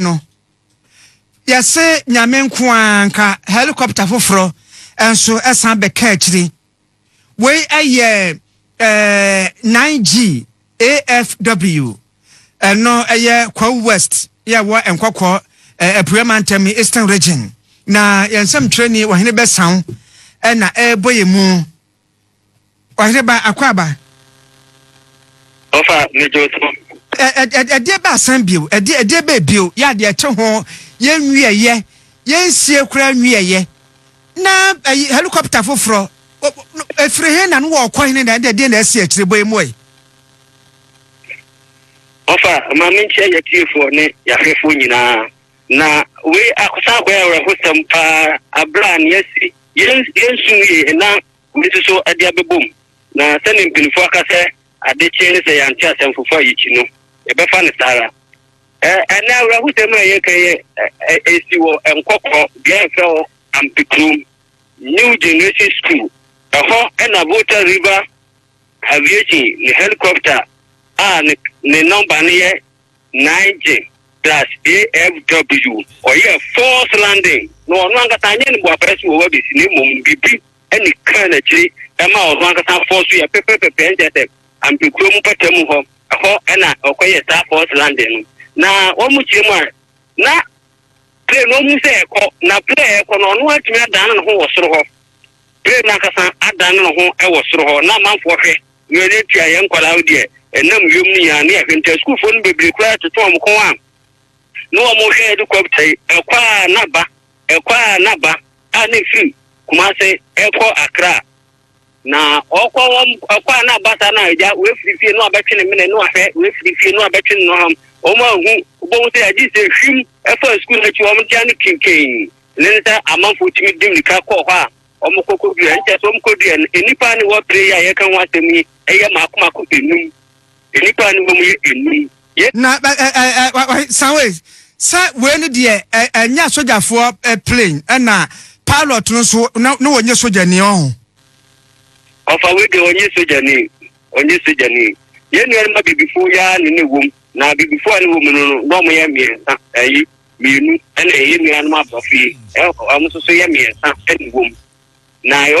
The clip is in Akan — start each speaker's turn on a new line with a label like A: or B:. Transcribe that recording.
A: no yɛse nyame nko ara nka helicopter foforɔ nso ɛsan bɛka akyiri wei ɛyɛ eh, 9G AFW ɛno ɛyɛ Kwawu West yɛwɔ nkɔkɔ eh, Apue Mantam Eastern Region na yɛn nsɛmtwerɛni Ɔhene Bɛsaw ɛna ɛrebɔ yɛn mu Ɔhene ba akwaaba. Ɔfa
B: ne dwo so. Ɛdeɛ
A: bɛ asan bio ɛdeɛ ɛdeɛ bɛ bio yɛ adeɛ ɛte ho yɛn nwieɛ yɛn nsie koraa nwieɛ na ɛyi helicopter foforɔ efiri he na no wɔ ɔkɔ hene na ɛdeɛ deɛ na ɛsi akyire bɔ emu ɛ.
B: Ɔfa maame nkyɛn yɛ tiefoɔ ne yɛahwɛfoɔ nyinaa. Na wei san akɔyɛ awerɛhosɛm paa berɛ a nea asi yɛn yɛnsu yie na wei nso so de abɛbɔ mu. Na sɛdeɛ mpanimfoɔ aka sɛ ade kye ne sɛ yɛante asɛm foforɔ a yɛkyi no, yɛbɛfa no saa ara. Ɛ ɛnɛ awerɛhosɛm a yɛka yɛ ɛ ɛsi wɔ Nkɔkɔɔ, beaeɛ a yɛfrɛ hɔ Ampekurom New Generation School. Ɛhɔ na Volta River Aviation ne helicopter a ne ne nɔmba no yɛ Nige plus AFW kɔyɛɛ false landing na ɔno ankasa anyɛ ne boapɛrɛ so wɔ hɔ abɛsi na mmom biribi ne kaa n'akyiri ɛma ɔno ankasa fɔɔ so yɛ pɛpɛpɛpɛ nkyɛ sɛ ampekuo mu pata mu hɔ ɛhɔ ɛna ɔkɔyɛ saa false landing no na wɔn mu kyerɛ mu a na plane no ɔmu sɛ ɛkɔ na plane ɛkɔ no ɔno atumi adane ne ho wɔ soro hɔ Bere nankasa adan no ho wɔ soro hɔ na amanfoɔ hwɛ wia no atua yɛn nkwadaa wo deɛ ɛnam wiem no nyinaa ne yɛhwɛ nti asukuufoɔ no bebree koraa toto wɔn kɔn a ne wɔn hwɛ yɛde kɔpta yi ɛkɔ a na ba ɛkɔ a na ba a ne firi Kumase ɛkɔ Akra na ɔkɔ wɔn ɛkɔ a na ba saa na agya wefiri fie no abɛtwe ne mene no ahwɛ wefiri fie no abɛtwe ne no ham wɔn ahu wɔn sɛ agye sɛ hwim ɛfa sukuu n'akyi wɔn tia no kinkin Ne ne sɛ amanfoɔ tumi di mirika kɔ hɔ a wɔkɔ kɔdua. Ɛno kyerɛ sɛ wɔkɔ dua no, nnipa a ne wɔ pire yi a yɛreka ho asɛm yi yɛ mako mako enum. Nnipa a ne wɔ mu yɛ enum. Yɛ. Na ɛ
A: ɛ ɛ wa wa san wei sɛ wei no deɛ ɛ ɛnyɛ asogyafoɔ ɛ plane ɛna pilot no nso na na wɔnyɛ sogyani ɔho.
B: Ɔfa wei deɛ wɔnyɛ sogyani wɔnyɛ sogyani. Yɛn nuanom abibifoɔ yi ara ne ne wɔ mu na abibifoɔ a ne wɔ mu no no na wɔyɛ mmiɛnsa ɛyi. mmienu na ɛyɛ nuanom aborɔfo yi, wɔn nso so yɛ mmiɛnsa na ɛwom. Na wɔn